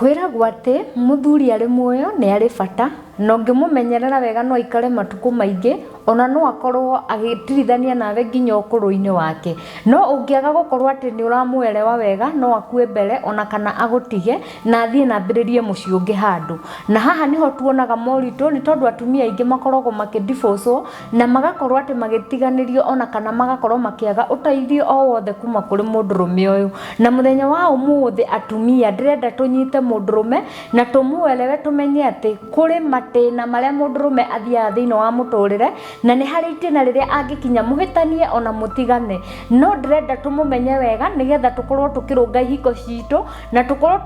Kwĩragwo atĩ mũthuri arĩ muoyo nĩ arĩ bata na ũngĩmũmenyerera wega no aikare matukũ maingĩ ona no akorwo agĩtirithania nawe nginya ũkũrũ-inĩ wake. No ũngĩaga gũkorwo atĩ nĩ ũramũerewa wega no akue mbere ona kana agũtige na athiĩ na ambĩrĩrie mũciĩ ũngĩ handũ. Na haha nĩho tuonaga moritũ nĩ tondũ atumia aingĩ makoragwo makĩ divorce wo. na magakorwo atĩ magĩtiganĩrio ona kana magakorwo makĩaga ũteithio o wothe kuma kũrĩ mũndũrũme ũyũ na mũthenya wa ũmũthĩ atumia ndĩrenda tũnyite mũndũrũme na tũmũelewe tũmenye atĩ kũrĩ matĩna marĩa mũndũrũme athiaga thĩinĩ wa mũtũrĩre na nĩ harĩ itĩna rĩrĩa angĩkinya mũhĩtanie ona mũtigane no ndĩrenda tũmũmenye wega nĩgetha tũkorwo tũkĩrũnga ihiko citũ na tũkorwo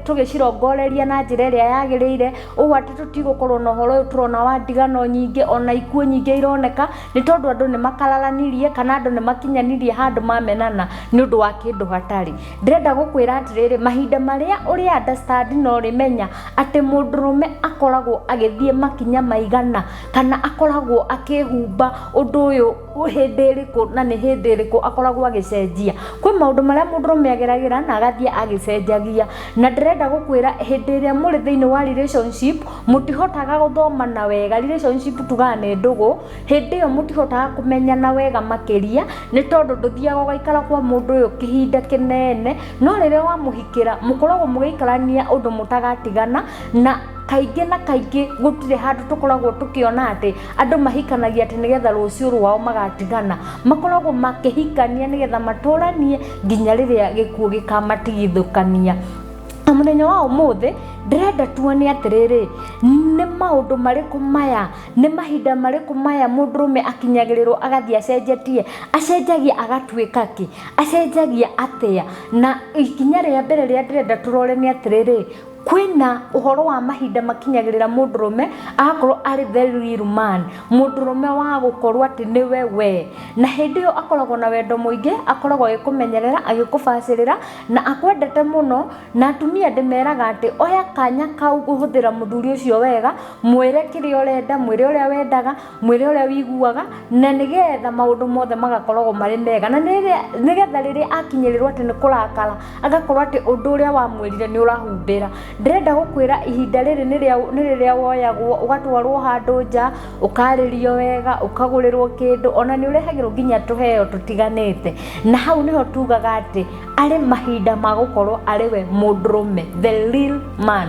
tũgĩcirongoreria na njĩra ĩrĩa yagĩrĩire ũũ atĩ tũtigũkorwo na ũhoro ũyũ tũrona wa ndigano nyingĩ ona ikuũ nyingĩ ironeka nĩ tondũ andũ nĩ makararanirie kana andũ nĩ makinyanirie handũ mamenana nĩ ũndũ wa kĩndũ hatarĩ ndĩrenda gũkwĩra atĩrĩrĩ mahinda marĩa ũrĩ understand na ũrĩmenya atĩ mũndũrũme akoragwo agĩthiĩ makinya maigana kana akoragwo akĩhumba ũndũ ũyũ hĩndĩ ĩrĩkũ na nĩ hĩndĩ ĩrĩkũ akoragwo agĩcenjia kwĩ maũndũ marĩa mũndũrũme ageragĩra na agathiĩ agĩcenjagia na ndĩrenda gũkwĩra hĩndĩ ĩrĩa mũrĩ thĩinĩ wa relationship mũtihotaga gũthomana wega relationship tugaga nĩ ndũgũ hĩndĩ ĩyo mũtihotaga kũmenyana wega makĩria nĩ tondũ ndũthiaga ũgaikara kwa mũndũ ũyũ kĩhinda kĩnene no rĩrĩa wamũhikĩra mũkoragwo mũgĩikarania ũndũ mũtagatigana na kaingĩ na kaingĩ gũtirĩ handũ tũkoragwo tũkĩona atĩ andũ mahikanagia atĩ nĩgetha rũciũ rwao magatigana makoragwo makĩhikania nĩgetha matũranie nginya rĩrĩa gĩkuũ gĩkamatigithũkania na mũthenya wa ũmũthĩ ndĩrenda tuone atĩrĩrĩ nĩ maũndũ marĩkũ maya nĩ mahinda marĩkũ maya mũndũ rũme akinyagĩrĩrwo agathiĩ acenjetie acenjagia agatuĩka kĩ acenjagia atĩa na ikinya rĩa mbere rĩrĩa ndĩrenda tũrore nĩ atĩrĩrĩ kwĩna ũhoro wa mahinda makinyagĩrĩra mũndũrũme agakorwo arĩ the real man mũndũrũme wa gũkorwo atĩ nĩwe we na hĩndĩ ĩyo akoragwo na wendo mũingĩ akoragwo agĩkũmenyerera agĩkũbacĩrĩra na akwendete mũno na atumia ndĩmeraga atĩ oya kanya kau kũhũthĩra mũthuri ũcio wega mwĩre kĩrĩa ũrenda mwĩre ũrĩa wendaga mwĩrĩ ũrĩa wĩiguaga na nĩgetha maũndũ mothe magakoragwo marĩ mega na nĩgetha rĩrĩa akinyĩrĩrwo atĩ nĩ kũrakara agakorwo atĩ ũndũ ũrĩa wamwĩrire nĩ ũrahumbĩra ndĩrenda gũkwĩra ihinda rĩrĩ nĩ rĩrĩa woyagwo ũgatwarwo handũ nja ũkarĩrio wega ũkagũrĩrwo kĩndũ ona nĩ ũrehagĩrwo nginya tũheo tũtiganĩte na hau nĩho tugaga atĩ arĩ mahinda ma gũkorwo arĩ we mũndũrũme the real man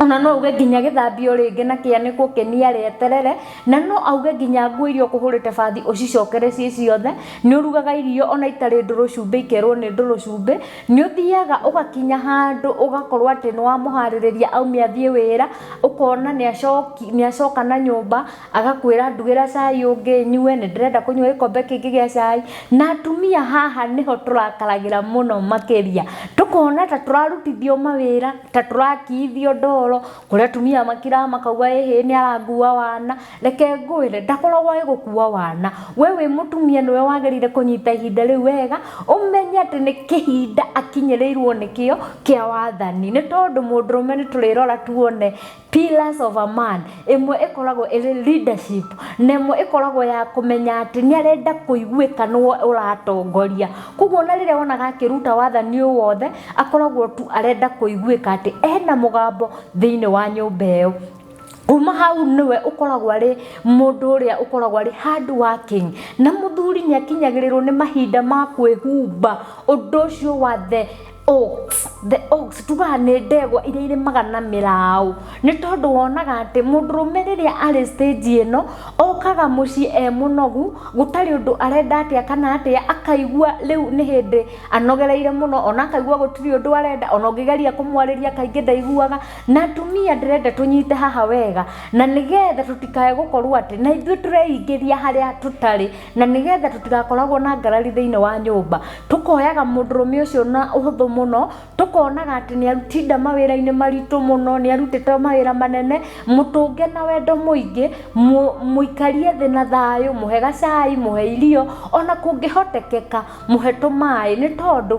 ona no uge nginya gĩthambio rĩngĩ na kĩanĩkwo kĩniare eterere na no auge nginya nguo iria ũkũhũrĩte bathi ũcicokere ciĩ ciothe nĩ ũrugaga irio ona itarĩ ndũrũ cumbĩ ikerwo nĩ ndũrũ cumbĩ nĩ ũthiaga ũgakinya handũ ũgakorwo atĩ nĩ wamũharĩrĩria aumia athiĩ wĩra ũkona nĩ acoki- nĩ acoka na nyũmba agakwĩra ndugĩra cai ũngĩ nyue nĩ ndĩrenda kũnyua gĩkombe kĩngĩ gĩa cai na atumia haha nĩho tũrakaragĩra mũno makĩria tũkona ta tũrarutithio mawĩra ta tũrakithio ndoro kũrĩa tumia makira makauga ĩhĩ nĩ arangua wana reke ngwĩre ndakoragwo ĩ gũkua wana we wĩ mũtumia nĩwe wagĩrĩire kũnyita ihinda rĩu wega ũmenye atĩ nĩ kĩhinda akinyĩrĩirwo nĩkĩo kĩa wathani nĩ tondũ mũndũrũme nĩ tũrĩrora tuone Pillars of a Man, ĩmwe ĩkoragwo ĩrĩ leadership, na ĩmwe ĩkoragwo ya kũmenya atĩ nĩ arenda kũiguĩka nĩwe ũratongoria. Kwoguo ona rĩrĩa wonaga akĩruta wathani ũyũ wothe, akoragwo tu arenda kũiguĩka atĩ ena mũgambo thĩiniĩ wa nyũmba ĩyo. Kuuma hau nĩwe ũkoragwo arĩ mũndũ ũrĩa ũkoragwo arĩ hard working. Na mũthuri nĩ akinyagĩrĩrwo nĩ mahinda ma kwĩhumba ũndũ ũcio wa the oaks the oaks tugaga nĩ ndegwa iria irĩmaga na mĩraũ nĩ tondũ wonaga atĩ mũndũrũme rĩrĩa arĩ stage ĩno okaga mũciĩ e mũnogu gũtarĩ ũndũ arenda atĩa kana atĩa akaigua rĩu nĩ hĩndĩ anogereire mũno ona akaigua gũtirĩ ũndũ arenda ona ũngĩgeria kũmwarĩria kaingĩ ndaiguaga na atumia ndĩrenda tũnyite haha wega na nĩgetha tũtikae gũkorwo atĩ na ithuĩ tũreingĩria harĩa tũtarĩ na nĩgetha tũtigakoragwo na ngarari thĩinĩ wa nyũmba tũkoyaga mũndũrũme ũcio na ũhũthũ mũno tũkonaga atĩ nĩ arutinda mawĩra-inĩ maritũ mũno nĩ arutĩte mawĩra manene mũtũnge na wendo mũingĩ mũ- mũikarie thĩ na thayũ mũhe gacai mũhe irio ona kũngĩhotekeka mũhe tũmaĩ nĩ tondũ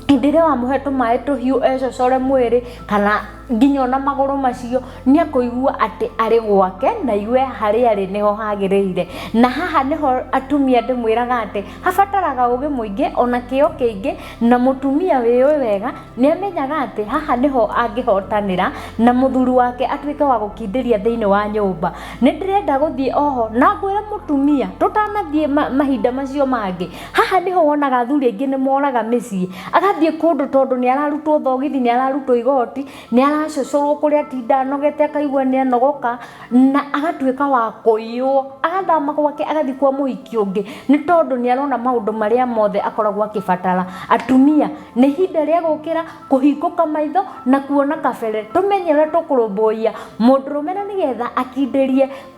hĩndĩ ĩrĩa wamũhe tũmaĩ tũhiũ ecocore mwĩrĩ kana nginya ona magũrũ macio nĩ ekũigua atĩ arĩ gwake na aigue harĩa arĩ nĩho hagĩrĩire. Na haha nĩho atumia ndĩmwĩraga atĩ habataraga ũgĩ mũingĩ ona kĩo kĩingĩ na mũtumia wĩyũĩ wega nĩ amenyaga atĩ haha nĩho angĩhotanĩra na mũthuri wake atuĩke wa gũkindĩria thĩinĩ wa nyũmba. Nĩ ndĩrenda gũthiĩ oho na ngwĩre mũtumia tũtanathiĩ mahinda macio mangĩ, haha nĩho wonaga athuri aingĩ nĩ moraga mĩciĩ agathiĩ kũndũ tondũ nĩ ararutwo thogithi nĩ ararutwo igoti nĩ aracocoro kũrĩa atinda anogete akaigua nĩ anogoka na agatuĩka wa kũiywo agathama gwake agathiĩ kwa mũhiki ũngĩ nĩ tondũ nĩ arona maũndũ marĩa mothe akoragwo akĩbatara atumia nĩ ihinda rĩa gũkĩra kũhingũka maitho na kuona kabere tũmenye ũrĩa tũkũrũmbũiya mũndũrũme na nĩgetha akindĩrie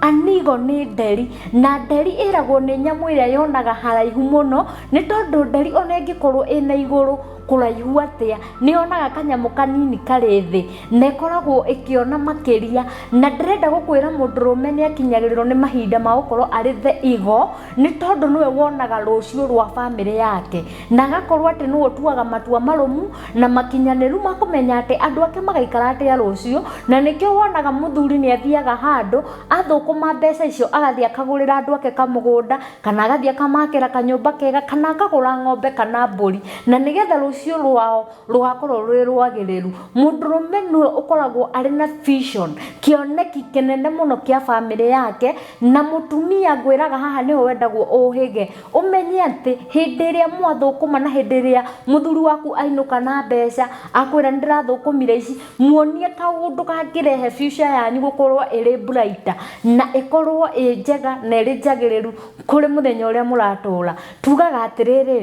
Anigo nĩ nderi, na nderi ĩragwo nĩ nyamũ ĩrĩa yonaga haraihu mũno, nĩ tondũ nderi ona ĩngĩkorwo ĩna igũrũ kũraihu atĩa, nĩ yonaga kanyamũ kanini karĩ thĩ, na ĩkoragwo ĩkĩona makĩria. Na ndĩrenda gũkwĩra mũndũrũme nĩ akinyagĩrĩrwo nĩ mahinda ma gũkorwo arĩ the igo, nĩ tondũ nĩwe wonaga rũcio rwa bamĩrĩ yake, na agakorwo atĩ nĩwe ũtuaga matua marũmu. na makinyanĩru ma kũmenya atĩ andũ ake magaikara atĩa rũciũ na nĩkĩo wonaga mũthuri nĩ athiaga handũ athũkũma mbeca icio agathiĩ akagũrĩra andũ ake kamũgũnda kana agathiĩ akamakĩra kanyũmba kega kana akagũra ng'ombe kana mbũri na nĩgetha rũciũ rwao rũgakorwo rwĩ rwagĩrĩru mũndũrũme nĩwe ũkoragwo arĩ na vision kĩoneki kĩnene mũno kĩa bamĩrĩ yake na mũtumia ngwĩraga haha nĩho wendagwo ũhĩge. Ũmenye atĩ hĩndĩ ĩrĩa mwathũkũma na hĩndĩ ĩrĩa mũthuri waku ainũka na mbeca akwĩra nĩ ndĩrathũkũmire ici, muonie kaũndũ kangĩrehe future yanyu gũkorwo ĩrĩ brighter na ĩkorwo ĩ njega na ĩrĩ njagĩrĩru kũrĩ mũthenya ũrĩa mũratũra. Tugaga atĩrĩrĩ,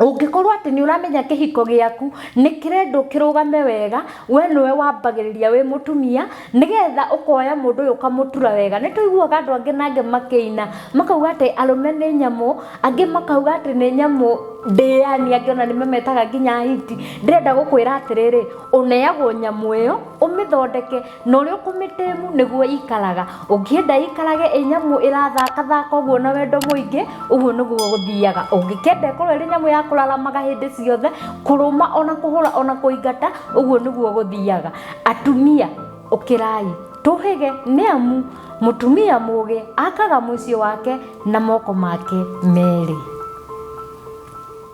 ũngĩkorwo atĩ nĩ ũramenya kĩhiko gĩaku nĩ kĩrendwo kĩrũgame wega we nĩwe wambagĩrĩria wĩ mũtumia nĩgetha ũkoya mũndũ ũyũ ũkamũtura wega nĩ tũiguaga andũ angĩ na angĩ makĩina makauga atĩ arũme nĩ nyamũ angĩ makauga atĩ nĩ nyamũ ndĩani angĩ ona nĩ mametaga nginya hiti ndĩrenda gũkwĩra atĩrĩrĩ ũneagwo nyamũ ĩyo ũmĩthondeke na ũrĩa ũkũmĩtĩmu nĩguo ĩikaraga ũngĩenda ĩikarage ĩ nyamũ ĩrathakathaka ũguo na wendo mũingĩ ũguo nĩguo gũthiaga ũngĩkenda ĩkorwo ĩrĩ nyamũ ya kũraramaga hĩndĩ ciothe kũrũma ona kũhũra ona kũingata ũguo nĩguo gũthiaga atumia ũkĩrai tũhĩge nĩ amu mũtumia mũgĩ akaga mũciĩ wake na moko make merĩ